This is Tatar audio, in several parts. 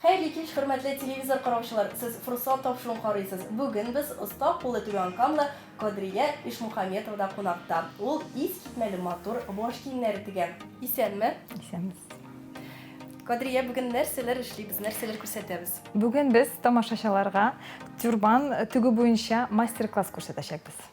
Хәерле кич, хөрмәтле телевизор караучылар! Сез форсат тапшыруын карыйсыз. Бүген без оста куллы түбәнкамлы Кадрия Ишмухаметовада кунакта. Ул искитмәле матур баш киемнәре тегә. Исәнме! Исәнбез. Кадрия, бүген нәрсәләр эшлибез, нәрсәләр күрсәтәбез? Бүген без тамашачыларга тюрбан тегү буенча мастер-класс күрсәтәчәкбез.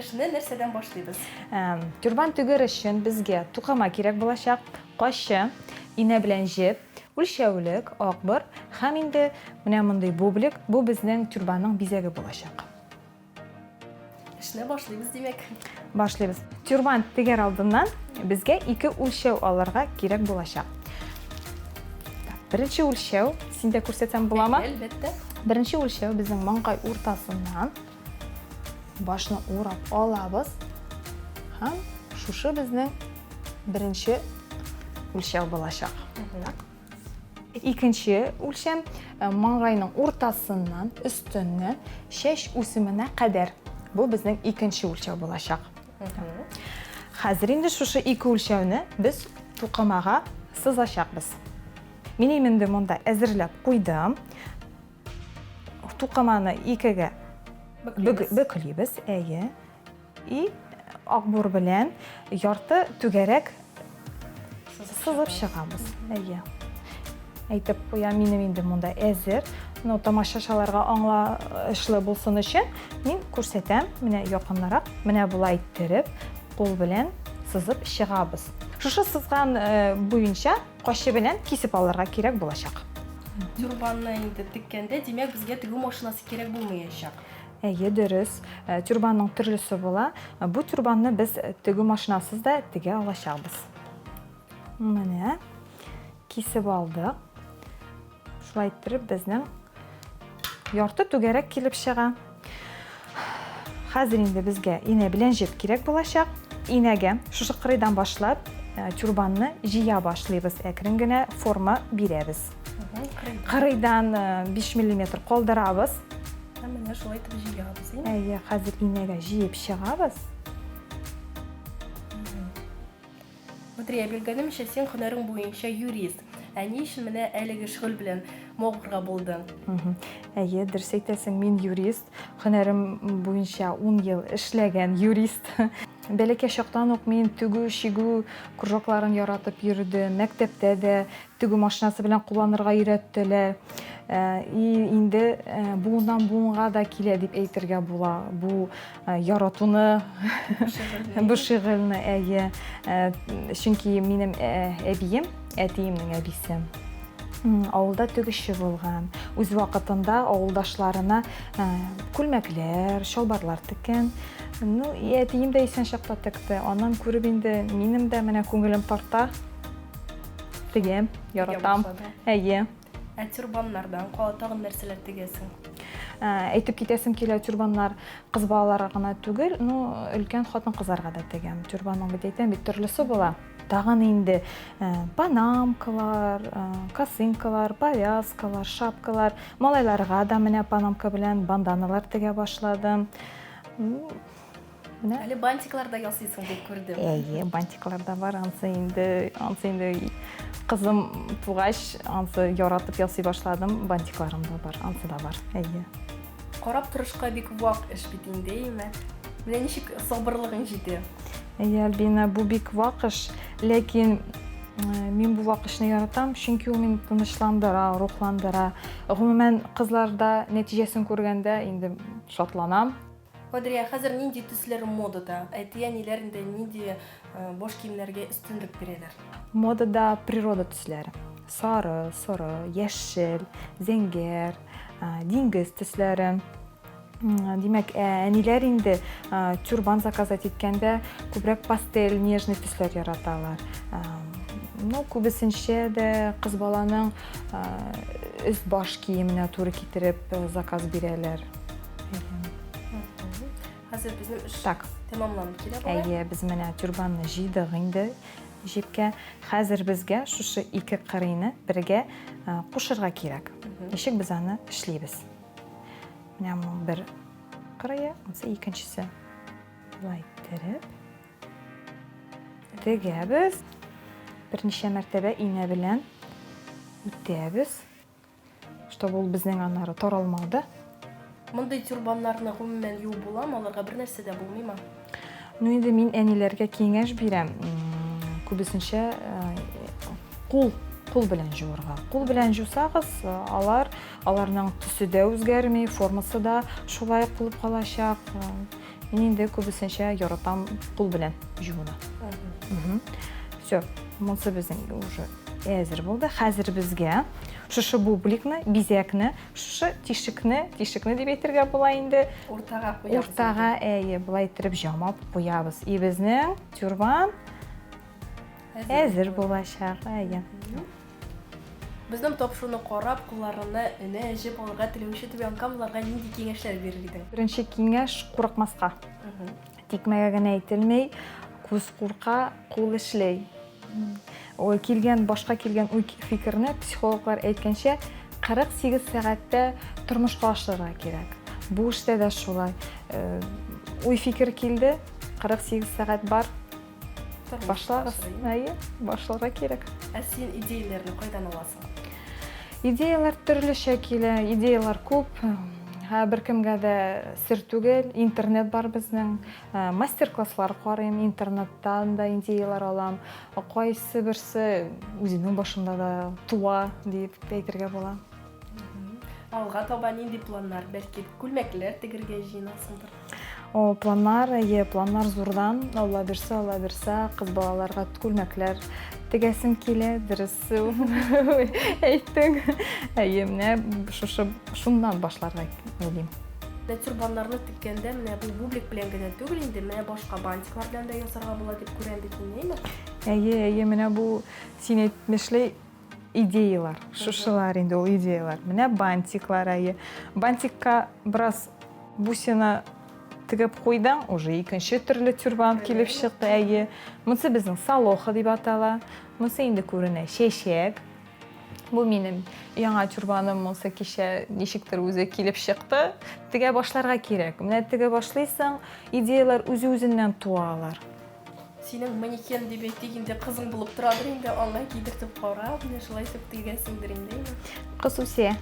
Эшне нәрсәдән башлыйбыз? Тюрбан тегер өчен безгә тукыма кирәк булачак, каччы, инә белән җеп, үлчәүлек, акбыр һәм инде менә мондый бублик, бу безнең тюрбанның бизәге булачак. Эшне башлыйбыз, димәк. Башлыйбыз. Тюрбант тегәр алдыннан безгә ике үлчәү алырга кирәк булачак. Беренче үлчәү, син дә күрсәтсәң буламы? Әлбәттә. Беренче үлчәү безнең маңгай уртасыннан башны урап алабыз һәм шушы безнең беренче үлчәү булачак. Икенче үлчәм э, маңгайның уртасыннан өстенне чәч үсеменә кадәр. Бу безнең икенче үлчәү булачак. Хәзер инде шушы ике үлчәүне без тукымага сызачакбыз. Мин инде монда әзерләп куйдым. Тукыманы икегә бөклибез, әйе. И акбур белән ярты түгәрәк сызып чыгабыз. Әйе. Әйтеп куя, минем инде монда әзер. Но тамашачыларга аңлашлы булсын өчен мин күрсәтәм. Менә якыннарак, менә болай иттереп, кул белән сызып чыгабыз. Шушы сызган э, буенча качы белән кисеп алырга кирәк булачак. Тюрбанны инде теккәндә, димәк, безгә тегү машинасы кирәк булмаячак. Әйе, дөрес. Тюрбанның төрлесе була. Бу тюрбанны без тегү машинасыз да тегә алачакбыз. Менә кисеп алдык. Шулай иттереп безнең ярты түгәрәк килеп чыга. Хәзер инде безгә инә белән җеп кирәк булачак. Инәгә шушы кырыйдан башлап тюрбанны җыя башлыйбыз, әкрен генә форма бирәбез. кырыйдан 5 миллиметр калдырабыз һәм менә шулай итеп җыябыз әйе хәзер инәгә җыеп чыгабыз Батрия белгәнемчә син һөнәрең буенча юрист ә ни өчен менә әлеге шөгыль белән мавыгырга булдың әйе дөрес әйтәсең мин юрист һөнәрем буенча ун ел эшләгән юрист бәләкәй чактан ук мин тегү чигү кружокларын яратып йөрдем мәктәптә дә Тегү машинасы белән кулланырга өйрәттеләр. И инде буыннан буынга да килә дип әйтергә була. Бу яратуны, бу шигырьне әйе. Чөнки минем әбием, әтиемнең әбисе авылда тегүче булган. Үз вакытында авылдашларына күлмәкләр, чалбарлар теккән. Ну, әтием дә исән чакта текте. Аннан күреп инде минем дә менә күңелем тарта. Тегәм, яратам. Әйе. Ә тюрбаннардан кала тагын нәрсәләр тегәсең? Ә, әйтеп китәсем килә, тюрбаннар кыз балаларга гына түгел, ну, өлкән хатын-кызларга да тегәм. Тюрбанның бит әйтәм, бит төрлесе була. Тагын инде ә, панамкалар, ә, косынкалар, повязкалар, шапкалар. Малайларга да менә панамка белән банданалар тегә башладым. Менә. Әле бантиклар да ясыйсың дип күрдем. Әйе, бантиклар да бар. Ансы инде, ансы инде кызым тугач, ансы яратып ясый башладым. Бантикларым да бар, ансы да бар. Әйе. Карап торышка бик вак эш бит инде, әйме? Менә ничек сабырлыгың җитә? Әйе, Альбина, бу бик вак эш, ләкин э, мин бу вак эшне яратам, чөнки ул мине тынычландыра, рухландыра. Гомумән, кызларда нәтиҗәсен күргәндә инде шатланам. Кадрия, хәзер нинди төсләр модада? Әти-әниләрендә нинди баш киемнәргә өстенлек бирәләр? Модада природа төсләре. Сары, соры, яшел, зәңгәр, диңгез төсләре. Димәк, әниләр инде тюрбан заказать иткәндә күбрәк пастель, нежный төсләр яраталар. Ну, күбесенчә дә кыз баланың өс баш киеменә туры китереп заказ бирәләр. Хәзер безнең эш так. тәмамланып килә бара. Әйе, без менә тюрбанны җыйдык инде җепкә. Хәзер безгә шушы ике кырыйны бергә кушырга кирәк. Ничек без аны эшлибез? Менә бу бер кырые, ансы икенчесе. Булай иттереп. Тегәбез. Берничә мәртәбә инә белән үтәбез. Чтобы ул безнең аннары таралмады. Мондый тюрбаннарны гомумән юып буламы? Аларга бер нәрсә дә булмыймы? Ну инде мин әниләргә киңәш бирәм. Күбесенчә кул кул белән җуырга. Кул белән җусагыз, алар аларның төсе дә үзгәрми, формасы да шулай кылып калачак. Мин инде күбесенчә яратам кул белән җууны. Все, монсы безнең уже әзер булды. Хәзер безгә шушы бубликны, бизәкне, шушы тишекне, тишекне дип әйтергә була инде. Уртага куябыз. Уртага, әйе, болай иттереп җамап куябыз. И безнең тюрбан әзер булачак, әйе. Безнең тапшыруны карап, кулларына энә җеп алырга теләүче түбәнкамлыларга нинди киңәшләр бирер идең? Беренче киңәш, курыкмаска. Тикмәгә генә әйтелми, күз курка, кул эшли. Килгән, башка килгән уй фикерне, психологлар әйткәнчә, 48 сәгатьтә тормышка ашырырга кирәк. Бу эштә дә шулай. Уй фикер килде, 48 сәгать бар, Башлагыз. Әйе, башларга кирәк. Ә син идеяләрне кайдан аласың? Идеялар төрлечә килә, идеялар күп. Ә беркемгә дә сер түгел, интернет бар безнең. Ә, Мастер-класслар карыйм, интернеттан да идеялар алам. Кайсы берсе үземнең башымда да туа, дип әйтергә була. Алга таба нинди планнар? Бәлки күлмәкләр тегергә җыенасыңдыр? О, планнар, әйе, планнар зурдан, алла бирсә, алла бирсә, кыз балаларга күлмәкләр тегәсем килә, дөрес әйттең. Әйе, менә шушы шуннан башларга уйлыйм. Менә тюрбаннарны теккәндә менә бу бублик белән генә түгел инде, менә башка бантиклар белән дә ясарга була дип күрәм бит мин, әйеме? Әйе, әйе, менә бу син әйтмешли Идеялар, шушылар инде ул идеялар. Менә бантиклар әйе. Бантикка бераз бусина тегеп куйдың, уже икенче төрле тюрбан килеп чыкты әйе. Монысы безнең салоха дип атала. Монысы инде күренә чәчәк. Бу минем яңа тюрбаным монысы кичә ничектер үзе килеп чыкты. Тегә башларга кирәк. Менә тегә башлыйсың, идеялар үзе-үзеннән туалар. Синең манекен дип әйтик инде, кызың булып торадыр инде, аңа кидертеп карап, менә шулай итеп тегәсеңдер инде. Кыз үсә.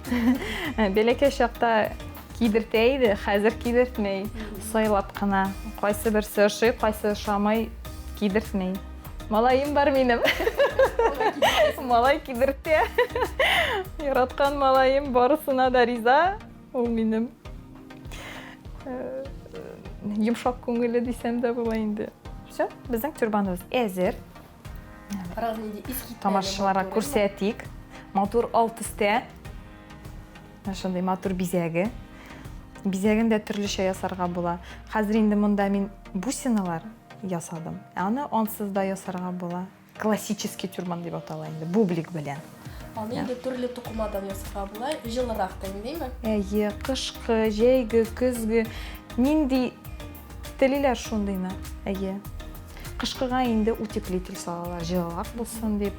Бәләкәй чакта кидертә иде, хәзер кидертмәй. Сайлап кына. Кайсы берсе ошый, кайсы ошамый, кидертмәй. Малаем бар минем. Малай кидертә. Яраткан малаем барысына да риза. Ул минем йомшак күңелле дисәм дә була инде. Все, безнең тюрбаныбыз әзер. Тамашачыларга күрсәтик. Матур ал төстә. Шундый матур бизәге. Бизәген дә төрлечә ясарга була. Хәзер инде монда мин бусиналар ясадым. Аны ансыз да ясарга була. Классический тюрбан дип атала инде, бублик белән. Аны инде төрле тукымадан ясарга була, җылырак та инде, әйме? Әйе, кышкы, җәйге, көзге, нинди телиләр шундыйны, әйе. Кышкыга инде утеплитель салалар, җылырак булсын дип.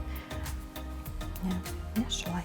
Менә шулай.